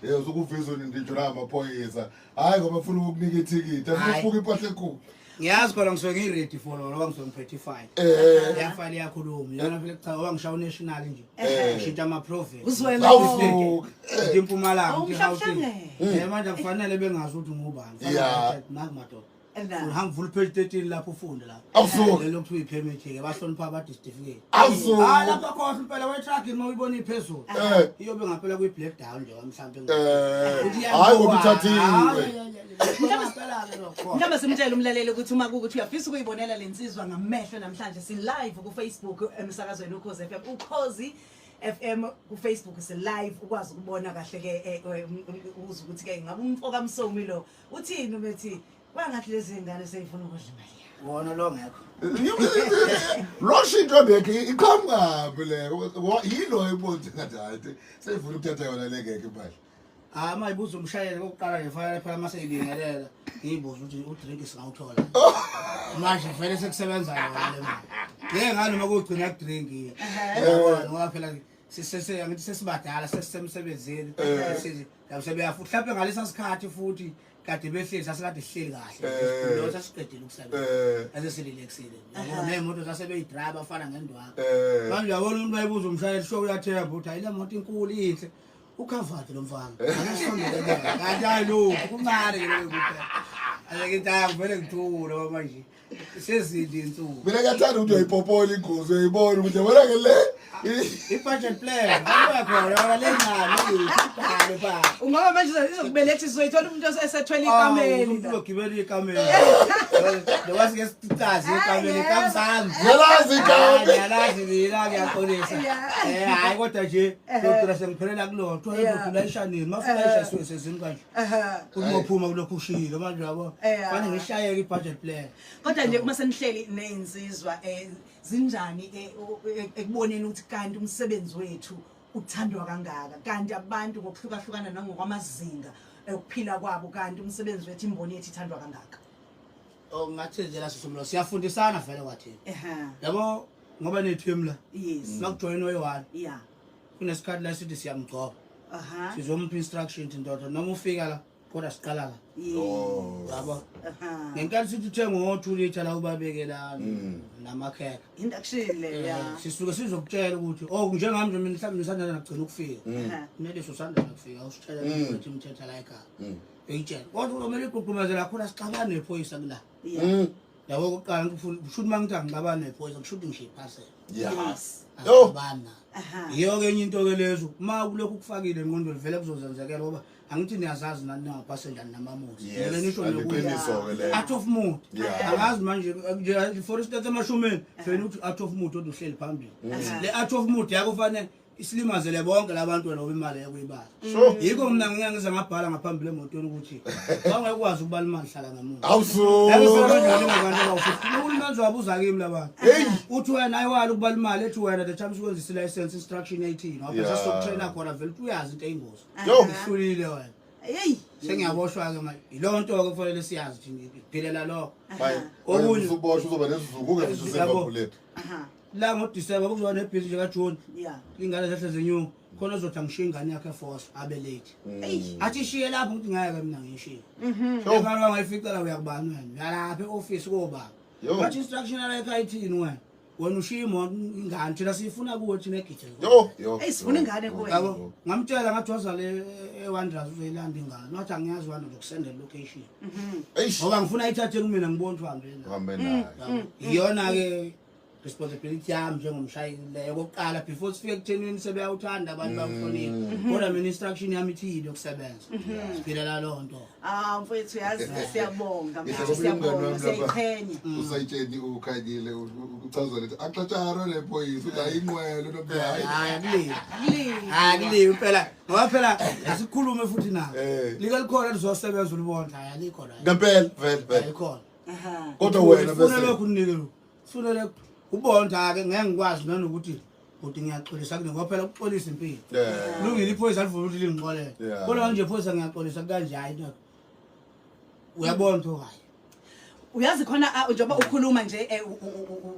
Eh uzokuvezwa nindinjo la amaphoyisa. Hayi ngoba ufuna ukukunika ithikithi. Hayi. Afuke impahla enkulu. ngiyazi khona ngisuke ngiready for lona ngoba ngisuke ngiphethe ifile Eh. yafile yakhuluma yona vele kuchaza ngoba ngishawa unational nje Eh. ngishintsha ama-province Uzwela Awu. Awu. Ngishintsha impumalanga Awu, ngishintsha mhlawumbe. Gauteng. Eh, manje akufanele bengazi ukuthi ngubani Yeah. makumadoda Uhamba vula page 13 lapho ufunde lapho. Awusuka. Lelo kuthiwa ipermit ke bahlonipha abade certificate. Awusuka. Ah lapha khohle impela we truck uma uyibona iphezulu. Eh. Iyobe ngaphela kwi black down nje mhlambe. Eh. Hayi ngokuthathiwe. Mhlawumbe simtshele umlaleli ukuthi uma kukuthi uyafisa ukuyibonela lensizwa ngamehlo namhlanje si live ku Facebook emsakazweni ukhoze FM ukhozi FM ku Facebook si live ukwazi ukubona kahle ke eh, eh, um, um, uze ukuthi ke ngabe umfoka msomi lo uthini ubethi kwangathi lezi ngane seyifuna ukudla imali yakho wona lo ngekho lo shinto bekhe iqhamukapi le yilo ebonze ngathi hayi seyifuna ukuthatha yona le ngeke imali hayi uma ibuza umshayeli kokuqala ngifanele phela uma seyibingelela ngiyibuza ukuthi udrink singawuthola oh. manje vele sekusebenza yona le mali ngeke ngani uma kugcina kudrink ngoba phela sesibadala sesisemsebenzini eh. yabo sebeyafu mhlawumbe ngalesa sikhathi futhi kade behleli sasikade sihleli kahle Eh. lo sasiqedile ukusebenza Eh. ase sililexile Aha. nemoto sasebeyidrayiva afana ngendwaka Eh. manje yabona umuntu bayibuza umshayeli sho uyathemba ukuthi hayi le moto inkulu inhle ukhavati lo mfana akasondele kanti hayi lokhu kuncane ke lokhu ayeke into yakho vele ngithule manje sezidi insuku mina ngiyathanda ukuthi uyayipopola ingozi uyayibona ukuthi yabona ke le i-budget plan abakhona le ngalo ibhale ba ungaba manje izokubeletha izoyithola umuntu osethwele ikameli umuntu ogibela ikameli nokwazi ke sitazi ikameli kamsami yalazi ikameli yalazi mina ngiyaxolisa eh hayi kodwa nje kodwa sengiphelela kulona kuthiwa yodwa ishanini mafuna isha siwe sezini kanje Ehhe. Uzophuma kulokhu ushilo manje yabo. Eh, Fane ah. ngishayeke i-budget plan. Kodwa nje uma senihleli nezinsizwa eh zinjani eh, u- e- ekuboneni ukuthi kanti umsebenzi wethu uthandwa kangaka kanti abantu ngokuhlukahlukana nangokwamazinga okuphila kwabo kanti umsebenzi wethu imboni yethu ithandwa kangaka. Oh ngathi nje la sisomlo siyafundisana vele kwathi. Ehhe. Yabo ngoba nethu emla. Yes. Makujoyina oyi-one. Yeah. kunesikhathi la sithi siyamgcoba aha sizomupha instruction thi ndoda noma ufika la kodwa siqala la Oh. yabo aha ngenkathi sithi uthenga ngo-two litre la ubabekelana Mm. namakhekha induction le ya Eh, sisuke sizokutshela ukuthi o njengami nje mina mhlawumbe nisandana nakugcina ukufika Mm. Aha. neliso usandana kufika usitshela Mm. ukuthi umthetha la ekhaya Mm. uyitshela kodwa uzomele igqugqumezela khona sixabane nephoyisa kula Mm. yabo kuqala kushuthi uma ngithi angixabani nephoyisa kushuthi ngishiye iphasela yes yo bana yiyo ke enye into ke lezo uma kulokhu kufakile enqondweni vele kuzozenzekela ngoba angithi niyazazi nani ningapasendani namamuzi le nisho nokuat of mood angazi manje nje for instance emashumeni fena ukuthi at of mood oduhleli phambili mm. le at of mood yako fanele isilimazele bonke labantwana ngoba imali yakuyibala Sure. yikho mina ngike ngize ngabhala ngaphambili emotweni ukuthi bangekwazi ukubala imali hlala ngamuntu Awusu. uhulumeni wabuza kimi labantu Hey. uthi wena ayiwali ukubala imali ethi wena the time sikwenzisa i-license instruction eighteen Yeah. wabhesa sokutraina khona vele uthi uyazi into eyingozi Yo. uhlulile wena Yeyi. sengiyaboshwa-ke manje yiloo nto-ke kufanele siyazi thina ngiphilela lokho Bye. Okunye- Uzoboshwa uzoba nesizungu ungefisa Yabo. usengabulethu. Aha. la ngodisemba kuzoba nebhizi nje kajuni yeah ingane zehle zenyuka khona ozothi angishiye ingane yakhe force abe late Eish. athi ishiye lapho ukuthi ngeke mina ngishiye Sho. ngalo angayifica la uyakubani wena uyalapha eoffice koba Yo. wathi instruction la ekhaya ithini wena wena ushiye imoto ingane thina siyifuna kuwe thina egithe Yo, yo. Eyi, sifuna yo, ingane yo, kuwe. yabo yo. ngamtshela ngathi wazale ewandras uzoyilanda ingane wathi angiyazi wani ngizokusendela location Eish. ngoba ngifuna ayithathe kumina ngibona ukuthi uhambe nayo. Uhambe nayo. iyona-ke responsibility yami njengomshayeli leyo kokuqala before sifike kuthenini sebeyawuthanda abantu mm. bakuhlonipha mm. kodwa mina instruction yami ithile yokusebenza mm-hmm. siphilela loo nto ah mfowethu yazi siyabonga siyabonga siyayiqhenya mm. usayitsheni ukhanyile uchazwa lethi axatsharo le boys uthi ayinqwele nobuyayi hayi kulile hayi kulile impela ngoba phela asikhulume futhi nawe eh. lika likhona lizosebenza ulibona hayi alikho la ngempela vele vele ayikhona kodwa wena besefunele ubonda-ke ngeke ngikwazi nanokuthi bhuti ngiyaxolisa kune ngoba phela ukuxolisa impilo lungile iphoyisa alivula ukuthi lingixolele kodwa kanje phoyisa ngiyaxolisa kukanjani into uyabona ukuthi hayi uyazi khona ah, njengoba ukhuluma nje eh,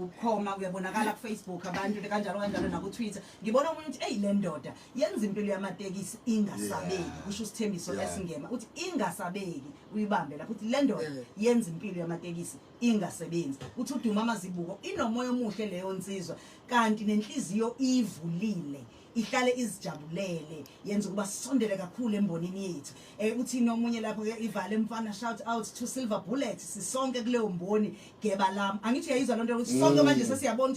ukhoma uyabonakala kufacebook abantu kanjalo kanjalo nakutwitter ngibona omunye ukuthi eyi le ndoda yenza impilo yamatekisi ingasabeki kusho usithembiso lesingema ukuthi ingasabeki uyibambe lapho ukuthi le ndoda eh. yenza impilo yamatekisi ingasebenzi uthi uduma amazibuko inomoya omuhle leyo nsizwa kanti nenhliziyo ivulile ihlale izijabulele yenza ukuba sisondele kakhulu embonini yethu eh uthi nomunye lapho ke ivale mfana shout out to silver bullet sisonke kuleyo mboni geba lami angithi uyayizwa lonto ukuthi sonke mm. manje sesiyabona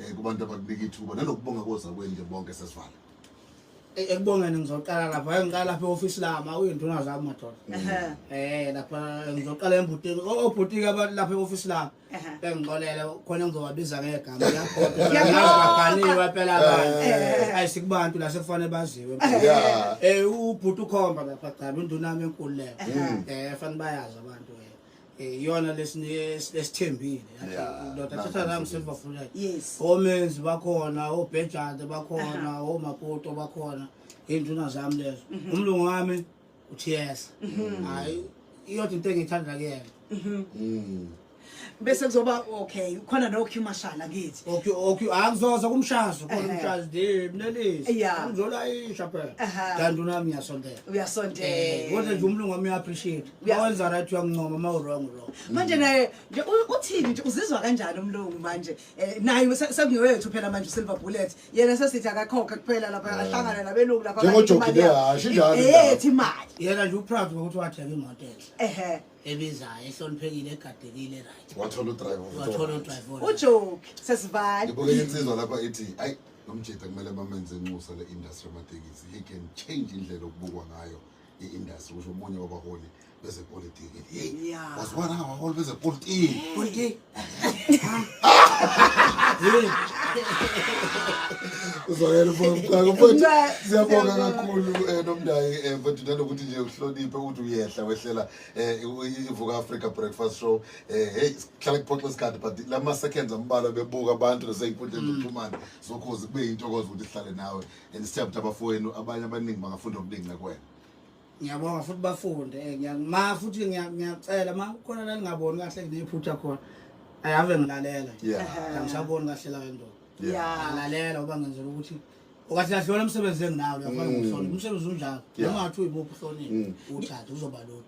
eh kubantu abakunika ithuba nanokubonga koza kwenje bonke sesivala Eh, ekubongeni ngizoqala lapha hayi ngiqala lapha e-ofisi lama uyinduna zami madoda Ehhe. eh lapha ngizoqala embutini O- obhutiki aba- lapha e-ofisi lami Ehhe. bengixolele khona ngizowabiza ngegama yakhonaaganiwe phela abantu Eh. ayi sikubantu la sekufanele baziwe Yeah. um ubhuti ukhomba lapha gcaba induna yami enkulu leyo um fanele bayazi abantu eh. Eh, iyona lesithembile ndoda thatha nami selibafunela omenzi bakhona obhejade bakhona omapoto bakhona iy'nduna zami lezo mhm. umlungu wami uthi yes mhm. hayi iyodwa into engiyithanda kuyena mhm. mm. bese kuzoba okay khona noq mashala kithi akuzoza kumshazo khona umshazo de mnelisiuzolayisha phela kanti unami uyasondela uyasondela eh, kodwa nje umlungu wami uya-appreciate uyawenza right uyangincoma ma urong urong manje naye nje u- uthini nje uzizwa kanjani umlungu manje Eh, naye se- sekungewethu phela manje usilver bullet yena sesithi akakhokhe kuphela lapha ahlangane nabelungu lapha Njengojoki imali yakhe. leyo, asho injalo Eh, indaba. ethi imali yena nje uproud ngokuthi wathenga imoto enhle ehe ebizayo ehloniphekile egadekile right wathola udrive wathola udriver ujoki sesivale ngibuke insizwa lapha ithi ayi lo mjita kumele bamenze inxusa le-industry yamatekisi he can change indlela okubukwa ngayo i-industry kusho omunye wabaholi bezepolitiki yeyi Yeah. wazibona ngabaholi bezepolitiki Politiki. uzwakele mfaka mfowethu Mfaka, siyabonga siyabonga. kakhulu um nomndayi um mfowethu nanokuthi nje uhloniphe ukuthi uyehla wehlela um ivuka africa breakfast show um heyi sihlala kuphoxa isikhathi but la ma-seconds ambalwa bebuka abantu nasey'nkundleni zokuxhumana zokhozi kube yintokozo ukuthi sihlale nawe and sithemba ukuthi abafowenu abanye abaningi bangafunda okuningi ngakwena ngiyabonga futhi bafunde eh, ngiya- ma futhi ngiya- ngiyacela ma kukhona lalingaboni kahle nginephutha khona ayave ngilalela yeah angisaboni kahle la ndoda Yeah. alalela uba ngenzela ukuthi okathi lahlona umsebenzi enginawo uyafana Mm. ngokuhlonipha umsebenzi unjalo Yeah. noma ngathi uyimuphi uhloniphe Mm. uthathe uzoba lula